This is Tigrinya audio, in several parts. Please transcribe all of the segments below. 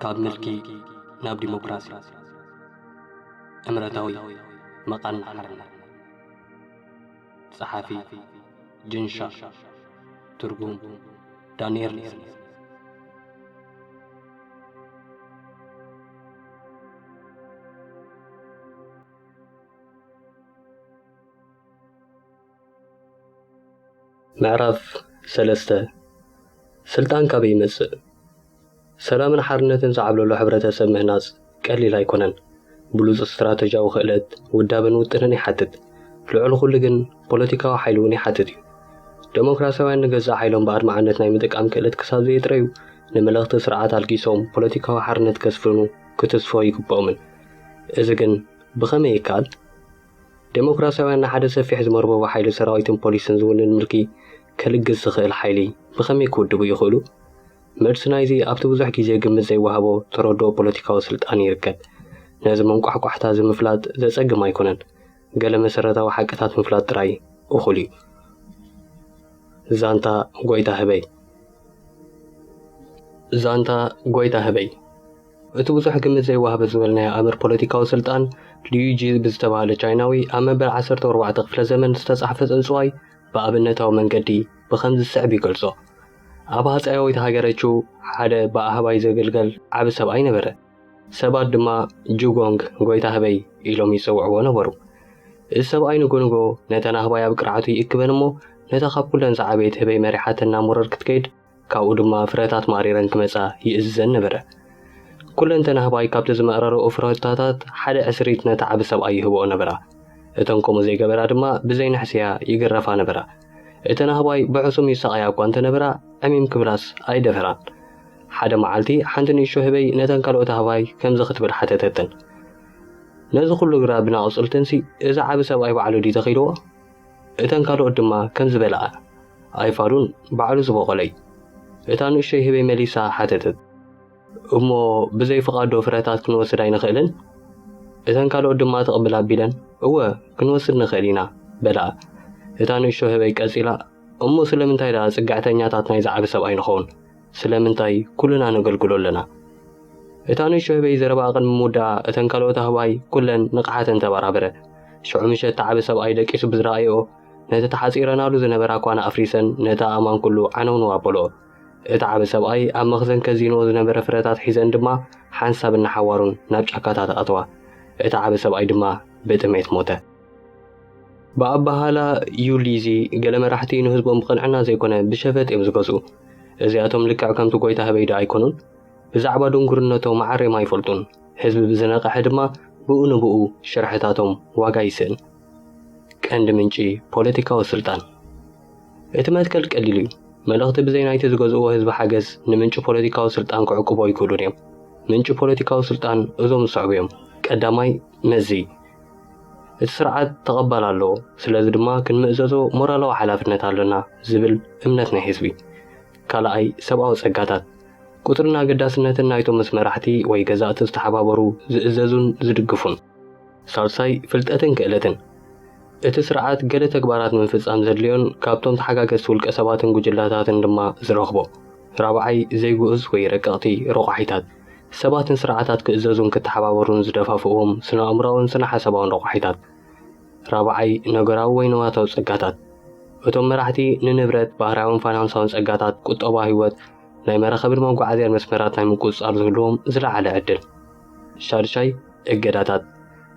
ካብ ምልኪ ናብ ዲሞክራሲ እምረታዊ መቓን ሓርነት ጸሓፊ ጅንሻ ትርጉም ዳንኤል ሪዝኒ ምዕራፍ ሰለስተ ስልጣን ካበይ ይመጽእ? ሰላምን ሓርነትን ዝዓብለሉ ሕብረተሰብ ምህናጽ ቀሊል ኣይኮነን። ብሉጽ ስትራተጂያዊ ክእለት፣ ውዳበን ውጥንን ይሓትት። ልዕሊ ኩሉ ግን ፖለቲካዊ ሓይሊ እውን ይሓትት እዩ። ደሞክራሲያውያን ንገዛእ ሓይሎም ብኣድማዕነት ናይ ምጥቃም ክእለት ክሳብ ዘየጥረዩ ንመለኽቲ ስርዓት ኣልጊሶም ፖለቲካዊ ሓርነት ከስፍኑ ክትስፎ ይግብኦምን። እዚ ግን ብኸመይ ይከኣል? ደሞክራሲያውያን ንሓደ ሰፊሕ ዝመርበቡ ሓይሊ ሰራዊትን ፖሊስን ዝውንን ምልኪ ከልግስ ዝኽእል ሓይሊ ብኸመይ ክውድቡ ይኽእሉ? መልሲ ናይዚ ኣብቲ ብዙሕ ግዜ ግምት ዘይወሃቦ ተረድኦ ፖለቲካዊ ስልጣን ይርከብ። ነዚ መንቋሕቋሕታ እዚ ምፍላጥ ዘጸግም ኣይኮነን፣ ገለ መሰረታዊ ሓቅታት ምፍላጥ ጥራይ እኹል እዩ። ዛንታ ጎይታ ህበይ። ዛንታ ጎይታ ህበይ። እቲ ብዙሕ ግምት ዘይወሃበ ዝበልናዮ ኣምር ፖለቲካዊ ስልጣን ሊዩጂ ብዝተባህለ ቻይናዊ ኣብ መበል ዓሰርተ ኣርባዕተ ክፍለ ዘመን ዝተጻሕፈ ጽንጽዋይ ብኣብነታዊ መንገዲ ብኸምዚ ዝስዕብ ይገልጾ። ኣብ ሃጸያዊት ሃገረ ቹ ሓደ ብኣህባይ ዘግልገል ዓቢ ሰብኣይ ነበረ። ሰባት ድማ ጁጎንግ፣ ጎይታ ህበይ፣ ኢሎም ይጽውዕዎ ነበሩ። እዚ ሰብኣይ ንጎንጎ ነተን ኣህባይ ኣብ ቅርዓቱ ይእክበን እሞ ነታ ካብ ኩለን ዝዓበየት ህበይ መሪሓተን ናብ ሙረር ክትከይድ ካብኡ ድማ ፍረታት ማሪረን ክመጻ ይእዝዘን ነበረ። ኩለን ተናህባይ ካብቲ ዝመእረረኦ ፍረታታት ሓደ ዕስሪት ነቲ ዓቢ ሰብኣይ ይህበኦ ነበራ። እተን ከምኡ ዘይገበራ ድማ ብዘይ ንሕስያ ይግረፋ ነበራ። እተናህባይ ብሕሱም ይሳቐያ እኳ እንተ ነበራ ዕሚም ክብላስ ኣይደፈራን። ሓደ መዓልቲ ሓንቲ ንእሽቶ ህበይ ነተን ካልኦት ኣህባይ ከምዚ ክትብል ሓተተተን፣ ነዚ ኹሉ ግራብን ኣቑጽልትንሲ እዚ ዓቢ ሰብኣይ ባዕሉ ድዩ ተኺልዎ? እተን ካልኦት ድማ ከም ዝበልኣ ኣይፋሉን፣ ባዕሉ ዝቦቖለ እዩ። እታ ንእሽቶይ ህበይ መሊሳ ሓተተት። እሞ ብዘይ ፍቓድዶ ፍረታት ክንወስድ ኣይንኽእልን? እተን ካልኦት ድማ ትቕብል ኣቢለን እወ ክንወስድ ንኽእል ኢና በልኣ። እታ ንእሽቶ ህበይ ቀጺላ እሞ ስለምንታይ ደኣ ጽግዕተኛታት ናይዚ ዓቢ ሰብኣይ ንኸውን? ስለምንታይ ኩልና ነገልግሎ ኣለና? እታ ንእሽቶ ህበይ ዘረባኣ ቅድሚ ምውዳኣ እተን ካልኦት ኣህባይ ኩለን ንቕሓተን ተበራበረ። ሽዑ ምሸት እቲ ዓቢ ሰብኣይ ደቂሱ ብዝረኣየኦ ነቲ ተሓጺረናሉ ዝነበራ ኳና ኣፍሪሰን ነቲ ኣእማን ኩሉ ዓነውነው ኣበለኦ። እቲ ዓቢ ሰብኣይ ኣብ መኽዘን ከዚንኦ ዝነበረ ፍረታት ሒዘን ድማ ሓንሳብ እናሓዋሩን ናብ ጫካታት ኣተዋ። እቲ ዓቢ ሰብኣይ ድማ ብጥሜት ሞተ። ብኣበሃህላ ዩሊዚ ገለ መራሕቲ ንህዝቦም ብቕንዕና ዘይኮነ ብሸፈጥ እዮም ዝገዝኡ። እዚኣቶም ልክዕ ከምቲ ጎይታ ህበይ ዶ ኣይኮኑን? ብዛዕባ ድንጉርነቶም ዓሬም ኣይፈልጡን። ህዝቢ ብዝነቐሐ ድማ ብኡ ንብኡ ሽርሕታቶም ዋጋ ይስእን። ቀንዲ ምንጪ ፖለቲካዊ ስልጣን እቲ መትከል ቀሊል እዩ። መልእኽቲ ብዘይ ናይቲ ዝገዝእዎ ህዝቢ ሓገዝ ንምንጪ ፖለቲካዊ ስልጣን ክዕቅቦ ኣይክእሉን እዮም። ምንጪ ፖለቲካዊ ስልጣን እዞም ዝስዕቡ እዮም። ቀዳማይ መዚ እቲ ስርዓት ተቐባል ኣለዎ፣ ስለዚ ድማ ክንምእዘዞ ሞራላዊ ሓላፍነት ኣሎና ዝብል እምነት ናይ ህዝቢ። ካልኣይ፣ ሰብኣዊ ጸጋታት። ቁጽርን ኣገዳስነትን ናይቶም ምስ መራሕቲ ወይ ገዛእቲ ዝተሓባበሩ ዝእዘዙን ዝድግፉን። ሳልሳይ፣ ፍልጠትን ክእለትን። እቲ ስርዓት ገለ ተግባራት ንምፍጻም ዘድልዮን ካብቶም ተሓጋገዝቲ ውልቀሰባትን ጉጅለታትን ድማ ዝረኽቦ። ራብዓይ፣ ዘይግኡዝ ወይ ረቀቕቲ ረቋሒታት። ሰባት ንስርዓታት ክእዘዙን ክተሓባበሩን ዝደፋፍእዎም ስነ-ኣእምሮኣውን ስነ-ሓሳባውን ረቋሒታት። ራብዓይ፣ ነገራዊ ወይ ንዋታዊ ጸጋታት። እቶም መራሕቲ ንንብረት፣ ባህርያውን ፋይናንሳውን ጸጋታት፣ ቁጠባ፣ ህይወት፣ ናይ መራኸብን መጓዓዝያን መስመራት ናይ ምቁጽጻር ዝህልዎም ዝለዓለ ዕድል። ሻድሻይ፣ እገዳታት።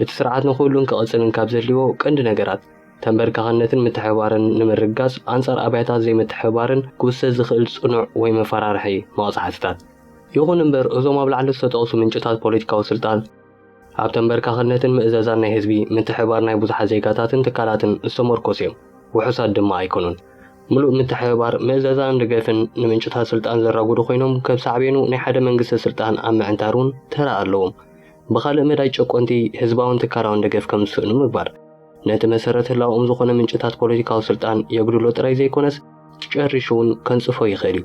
እቲ ስርዓት ንኽህሉን ክቕጽልን ካብ ዘድልይዎ ቀንዲ ነገራት፣ ተንበርካኽነትን ምትሕብባርን ንምርግጋጽ ኣንጻር ኣብያታት ዘይምትሕብባርን ክውሰድ ዝኽእል ጽኑዕ ወይ መፈራርሒ መቕጻዕትታት። ይኹን እምበር እዞም ኣብ ላዕሊ ዝተጠቕሱ ምንጭታት ፖለቲካዊ ስልጣን ኣብ ተንበርካኽነትን ምእዘዛን ናይ ህዝቢ፣ ምትሕብባር ናይ ብዙሓት ዜጋታትን ትካላትን ዝተመርኮሱ እዮም። ውሑሳት ድማ ኣይኮኑን። ምሉእ ምትሕብባር፣ ምእዘዛን ደገፍን ንምንጭታት ስልጣን ዘራጉዱ ኮይኖም ከብ ሳዕቤኑ ናይ ሓደ መንግስቲ ስልጣን ኣብ ምዕንታር እውን ተራ ኣለዎም። ብኻልእ መዳይ ጨቆንቲ ህዝባውን ትካላውን ደገፍ ከም ዝስእኑ ምግባር። ነቲ መሰረት ህላውኦም ዝኾነ ምንጭታት ፖለቲካዊ ስልጣን የጉድሎ ጥራይ ዘይኮነስ ጨሪሹ እውን ከንጽፎ ይኽእል እዩ።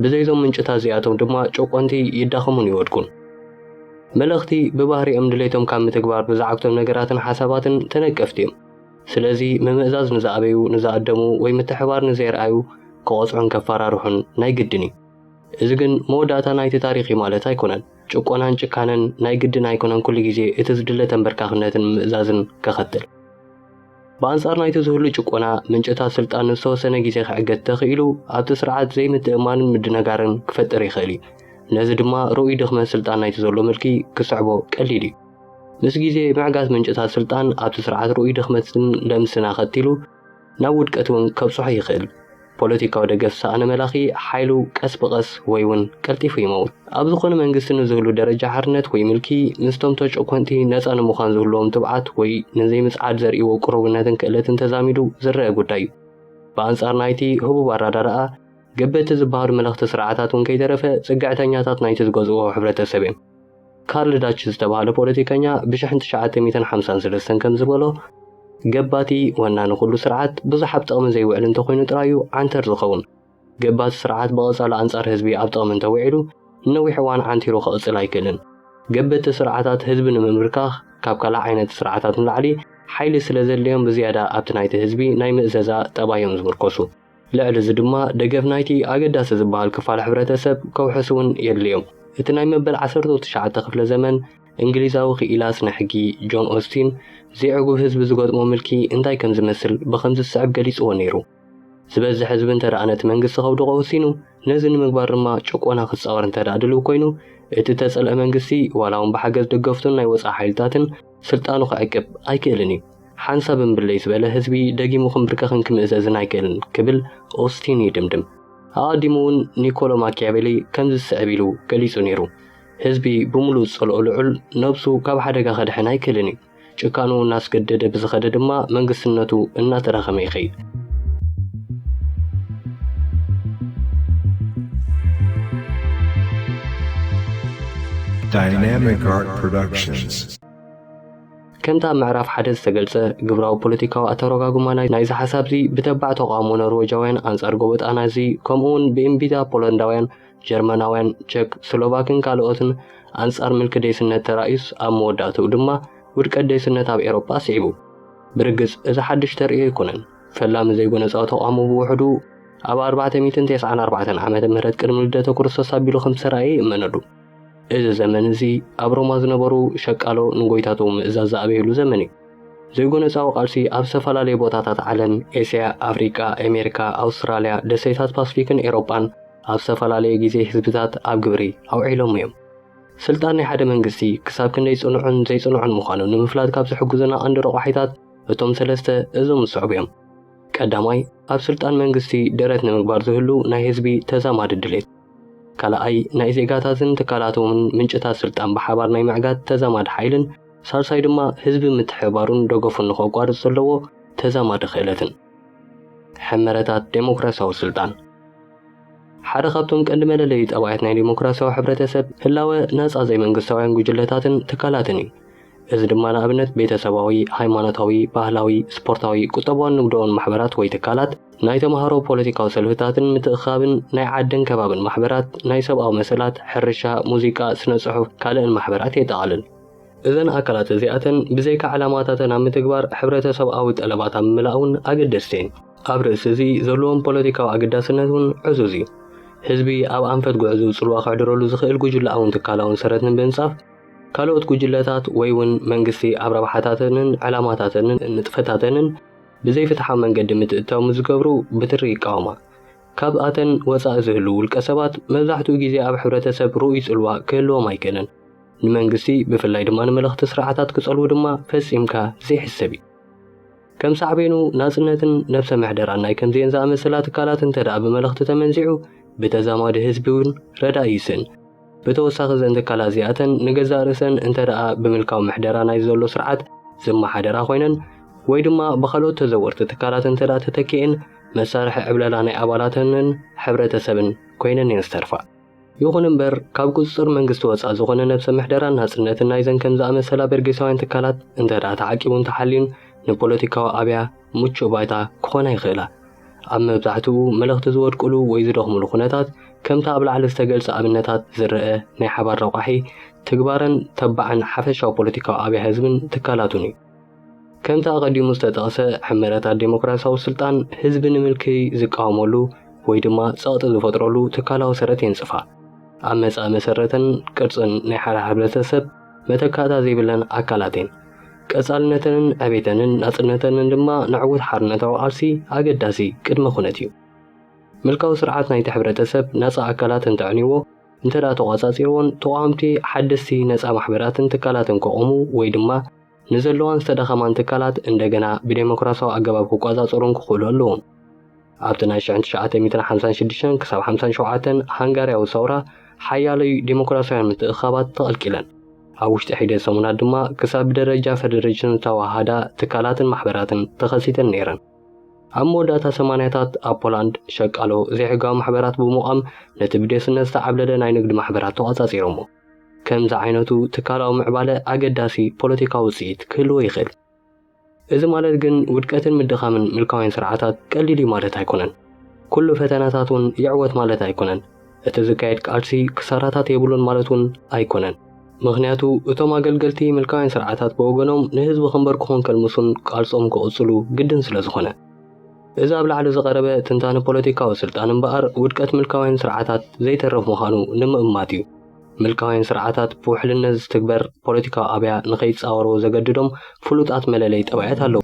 ብዘይዞም ምንጭታት እዚኣቶም ድማ ጨቆንቲ ይዳኸሙን ይወድቁን። መለኽቲ ብባህሪኦም ድሌቶም ካብ ምትግባር ብዝዓግቶም ነገራትን ሓሳባትን ተነቀፍቲ እዮም። ስለዚ ምምእዛዝ ንዝኣበዩ ንዝኣደሙ ወይ ምትሕባር ንዘየርኣዩ ክቐጽዑን ከፈራርሑን ናይ ግድን እዩ። እዚ ግን መወዳእታ ናይቲ ታሪኽ እዩ ማለት ኣይኮነን። ጭቆናን ጭካነን ናይ ግድን ኣይኮነን ኩሉ ግዜ እቲ ዝድለ ተንበርካኽነትን ምእዛዝን ከኸትል። ብኣንጻር ናይቲ ዝህሉ ጭቆና፣ ምንጭታት ስልጣን ንዝተወሰነ ግዜ ክዕገት ተኽኢሉ ኣብቲ ስርዓት ዘይምትእምማንን ምድንጋርን ክፈጥር ይኽእል እዩ። ነዚ ድማ ርኡይ ድኽመት ስልጣን ናይቲ ዘሎ ምልኪ ክስዕቦ ቀሊል እዩ። ምስ ግዜ፣ ምዕጋት ምንጭታት ስልጣን ኣብቲ ስርዓት ርኡይ ድኽመትን ለምስን ኣኸቲሉ፣ ናብ ውድቀት እውን ከብጽሖ ይኽእል። ፖለቲካዊ ደገፍ ዝሰኣነ መላኺ ሓይሉ ቀስ ብቐስ ወይ እውን ቀልጢፉ ይመውት። ኣብ ዝኾነ መንግስቲ ንዝህሉ ደረጃ ሓርነት ወይ ምልኪ ምስቶም ተጨኮንቲ ነጻ ንምዃን ዝህልዎም ትብዓት ወይ ንዘይምጽዓድ ዘርእይዎ ቅሩብነትን ክእለትን ተዛሚዱ ዝረኣ ጉዳይ እዩ። ብኣንጻር ናይቲ ህቡብ ኣረዳድኣ ገበቲ ዝበሃሉ መለኽቲ ስርዓታት እውን ከይተረፈ ጽግዕተኛታት ናይቲ ዝገዝእዎ ሕብረተሰብ እዮም። ካርል ዳች ዝተባህለ ፖለቲከኛ ብሽሕን ትሽዓተ ሚእትን ሓምሳን ሰለስተን ከም ዝበሎ ገባቲ ወናኒ ኩሉ ስርዓት ብዙሕ ኣብ ጥቕሚ ዘይውዕል እንተኾይኑ ጥራይ እዩ ዓንተር ዝኸውን። ገባቲ ስርዓት ብቐጻሉ ኣንጻር ህዝቢ ኣብ ጥቕሚ እንተውዒሉ ንነዊሕ እዋን ዓንቲሩ ክቕጽል ኣይክእልን። ገበቲ ስርዓታት ህዝቢ ንምምብርካኽ ካብ ካልእ ዓይነት ስርዓታት ንላዕሊ ሓይሊ ስለ ዘድልዮም ብዝያዳ ኣብቲ ናይቲ ህዝቢ ናይ ምእዘዛ ጠባይ እዮም ዝምርኮሱ። ልዕሊ እዚ ድማ ደገፍ ናይቲ ኣገዳሲ ዝበሃል ክፋል ሕብረተሰብ ከውሕስ እውን የድልዮም። እቲ ናይ መበል ዓሰርተው ትሽዓተ ክፍለ ዘመን እንግሊዛዊ ክኢላ ስነ ሕጊ ጆን ኦስቲን ዘይዕጉብ ህዝቢ ዝገጥሞ ምልኪ እንታይ ከም ዝመስል ብኸምዚ ዝስዕብ ገሊጽዎ ነይሩ። ዝበዝሕ ህዝቢ እንተደኣ ነቲ መንግስቲ ከውድቖ ወሲኑ፣ ነዚ ንምግባር ድማ ጭቆና ክጻወር እንተደኣ ድልው ኮይኑ፣ እቲ እተጸልአ መንግስቲ ዋላ እውን ብሓገዝ ደገፍቱን ናይ ወጻኢ ሓይልታትን፣ ስልጣኑ ክዕቅብ ኣይክእልን እዩ። ሓንሳብ እምብለይ ዝበለ ህዝቢ ደጊሙ ክምብርከኽን ክምእዘዝን ኣይክእልን ክብል ኦስቲን ይድምድም። ኣቐዲሙ እውን ኒኮሎ ማኪያቬሊ ከምዚ ዝስዕብ ኢሉ ገሊጹ ነይሩ፣ ህዝቢ ብምሉእ ዝጸልኦ ልዑል ነብሱ ካብ ሓደጋ ከድሕን ኣይክእልን እዩ። ጭካንኡ እናስገደደ ብዝኸደ ድማ መንግስትነቱ እናተዳኸመ ይኸይድ። Dynamic Art Productions. ከምቲ ኣብ ምዕራፍ ሓደ ዝተገልጸ ግብራዊ ፖለቲካዊ ኣተረጓጉማ ናይ- ናይዚ ሓሳብዚ ብተባዕ ተቓውሞ ኖርወጃውያን ኣንጻር ጎበጣና እዚ ከምኡውን ብእምቢታ ፖለንዳውያን፣ ጀርመናውያን፣ ቸክ፣ ስሎቫክን ካልኦትን ኣንጻር ምልኪ ዴስነት ተራእዩስ ኣብ መወዳእትኡ ድማ ውድቀት ዴስነት ኣብ ኤውሮጳ ስዒቡ። ብርግጽ እዚ ሓድሽ ተርእዮ ኣይኮነን። ፈላሚ ዘይጎነጻዊ ተቋሙ ብውሕዱ ኣብ ኣርባዕተ ሚእትን ተስዓን ኣርባዕተን ዓመተ ምህረት ቅድሚ ልደተ ክርስቶስ ኣቢሉ ከም ዝተራእየ ይእመነሉ። እዚ ዘመን እዚ ኣብ ሮማ ዝነበሩ ሸቃሎ ንጎይታቶ ምእዛዝ ዝኣበይሉ ዘመን እዩ። ዘይጎነጻዊ ቃልሲ ኣብ ዝተፈላለየ ቦታታት ዓለም ኤስያ፣ ኣፍሪቃ፣ ኣሜሪካ፣ ኣውስትራልያ፣ ደሴታት ፓስፊክን ኤሮጳን ኣብ ዝተፈላለየ ግዜ ህዝብታት ኣብ ግብሪ ኣውዒሎሞ እዮም። ስልጣን ናይ ሓደ መንግስቲ ክሳብ ክንደይ ጽኑዕን ዘይጽኑዕን ምዃኑ ንምፍላጥ ካብ ዝሕግዙና ቀንዲ ረቋሒታት እቶም ሰለስተ እዞም ዝስዕቡ እዮም። ቀዳማይ፣ ኣብ ስልጣን መንግስቲ ደረት ንምግባር ዝህሉ ናይ ህዝቢ ተዛማዲ ድሌት። ካልኣይ፣ ናይ ዜጋታትን ትካላቶምን ምንጭታት ስልጣን ብሓባር ናይ ምዕጋት ተዛማዲ ሓይልን። ሳልሳይ ድማ፣ ህዝቢ ምትሕብባሩን ደገፉን ንኸቋርጽ ዘለዎ ተዛማዲ ክእለትን። ሕመረታት ደሞክራሲያዊ ስልጣን። ሓደ ካብቶም ቀንዲ መለለዩ ጠባያት ናይ ዲሞክራሲያዊ ሕብረተሰብ ህላወ ናጻ ዘይመንግስታውያን ጉጅለታትን ትካላትን እዩ። እዚ ድማ ንኣብነት ቤተሰባዊ፣ ሃይማኖታዊ፣ ባህላዊ፣ ስፖርታዊ፣ ቁጠባውን ንግዳውን ማሕበራት ወይ ትካላት፣ ናይ ተማሃሮ ፖለቲካዊ ሰልፍታትን ምትእኽኻብን፣ ናይ ዓድን ከባብን ማሕበራት፣ ናይ ሰብኣዊ መሰላት፣ ሕርሻ፣ ሙዚቃ፣ ስነ-ጽሑፍ፣ ካልእን ማሕበራት የጠቓልል። እዘን ኣካላት እዚኣተን ብዘይካ ዕላማታተን ኣብ ምትግባር ሕብረተሰብኣዊ ጠለባት ኣብ ምምላእ'ውን ኣገደስቲ እየን። ኣብ ርእሲ እዚ ዘለዎም ፖለቲካዊ ኣገዳስነት እውን ዕዙዝ እዩ። ህዝቢ ኣብ ኣንፈት ጉዕዝኡ ጽልዋ ከሕድረሉ ዝኽእል ጉጅለኣውን ትካላውን ሰረት ንምንጻፍ፣ ካልኦት ጉጅለታት ወይ እውን መንግስቲ ኣብ ረብሓታተንን ዕላማታተንን ንጥፈታተንን ብዘይፍትሓዊ መንገዲ ምትእትታው ምስ ዝገብሩ ብትሪ ይቃወማ። ካብኣተን ወጻኢ ዝህልዉ ውልቀሰባት መብዛሕትኡ ግዜ ኣብ ሕብረተሰብ ርኡይ ጽልዋ ክህልዎም ኣይክእልን። ንመንግስቲ ብፍላይ ድማ ንመለኽቲ ስርዓታት ክጸልዉ ድማ ፈጺምካ ዘይሕሰብ እዩ። ከም ሳዕቤኑ ናጽነትን ነብሰ ምሕደራን ናይ ከምዚኤን ዝኣመሰላ ትካላት እንተ ደኣ ብመለኽቲ ተመንዚዑ ብተዛማዲ ህዝቢ እውን ረዳኢ ይስእን። ብተወሳኺ እዘን ትካላት እዚኣተን ንገዛእ ርእሰን እንተ ደኣ ብምልካዊ ምሕደራ ናይ ዘሎ ስርዓት ዝመሓደራ ኮይነን ወይ ድማ ብኻልኦት ተዘወርቲ ትካላት እንተ ደኣ ተተኪኤን መሳርሒ ዕብለላ ናይ ኣባላተንን ሕብረተሰብን ኮይነን እየን ዝተርፋ። ይኹን እምበር ካብ ቁጽጽር መንግስቲ ወጻእ ዝኾነ ነብሰ ምሕደራን ናጽነትን ናይዘን ከም ዝኣመሰላ በርጌሳውያን ትካላት እንተድኣ ተዓቂቡን ተሓልዩን ንፖለቲካዊ ኣብያ ምቹእ ባይታ ክኾና ይኽእላ። ኣብ መብዛሕትኡ መለኽቲ ዝወድቁሉ ወይ ዝደኽሙሉ ኩነታት ከምቲ ኣብ ላዕሊ ዝተገልጸ ኣብነታት ዝረኣ ናይ ሓባር ረቋሒ ትግባረን ተባዕን ሓፈሻዊ ፖለቲካዊ ኣብያ ህዝብን ትካላቱን እዩ። ከምቲ ኣቐዲሙ ዝተጠቕሰ ሕመረታት ዴሞክራሲያዊ ስልጣን ህዝቢ ንምልክይ ዝቃወመሉ ወይ ድማ ጸቕጢ ዝፈጥረሉ ትካላዊ ሰረት የንጽፋ። ኣብ መጻኢ መሰረትን ቅርጽን ናይ ሓደ ሕብረተሰብ መተካእታ ዘይብለን ኣካላት እየን። ቀጻልነተንን ዕቤተንን ናጽነተንን ድማ ንዕውት ሓርነታዊ ቃልሲ ኣገዳሲ ቅድመ ኩነት እዩ። ምልካዊ ስርዓት ናይቲ ሕብረተሰብ ናጻ ኣካላት እንተዕንይዎ እንተ ደኣ ተቖጻጺርዎን ተቓወምቲ ሓደስቲ ነጻ ማሕበራትን ትካላትን ከቖሙ ወይ ድማ ንዘለዋን ዝተዳኸማን ትካላት እንደገና ብደሞክራስያዊ ኣገባብ ክቆጻጸሩን ክኽእሉ ኣለዎም። ኣብቲ ናይ ሽሕን ትሽዓተ ሚእትን ሓምሳን ሽዱሽተን ክሳብ ሓምሳን ሸውዓተን ሃንጋርያዊ ሰውራ ሓያሎይ ደሞክራስያውያን ምትእኽኻባት ተቐልቂለን። ኣብ ውሽጢ ሒደት ሰሙናት ድማ ክሳብ ብደረጃ ፈደረሽን ዝተዋሃሃዳ ትካላትን ማሕበራትን ተኸሲተን ነይረን። ኣብ መወዳእታ ሰማንያታት ኣብ ፖላንድ ሸቃሎ ዘይሕጋዊ ማሕበራት ብምቛም ነቲ ብዴስነት ዝተዓብለለ ናይ ንግድ ማሕበራት ተቛጻጺሮሞ። ከምዚ ዓይነቱ ትካላዊ ምዕባለ ኣገዳሲ ፖለቲካዊ ውጽኢት ክህልዎ ይኽእል። እዚ ማለት ግን ውድቀትን ምድኻምን ምልካውያን ስርዓታት ቀሊል እዩ ማለት ኣይኮነን። ኩሉ ፈተነታት እውን ይዕወት ማለት ኣይኮነን። እቲ ዝካየድ ቃልሲ ክሳራታት የብሉን ማለት እውን ኣይኮነን። ምኽንያቱ እቶም ኣገልገልቲ ምልካውያን ስርዓታት ብወገኖም ንህዝቢ ክንበርክኹን ከልምሱን ቃልሶም ክቕጽሉ ግድን ስለ ዝኾነ። እዚ ኣብ ላዕሊ ዝቐረበ ትንታነ ፖለቲካዊ ስልጣን እምበኣር ውድቀት ምልካውያን ስርዓታት ዘይተርፍ ምዃኑ ንምእማት እዩ። ምልካውያን ስርዓታት ብውሕልነት ዝትግበር ፖለቲካዊ ኣብያ ንኸይጻወርዎ ዘገድዶም ፍሉጣት መለለይ ጠባያት ኣለዉ።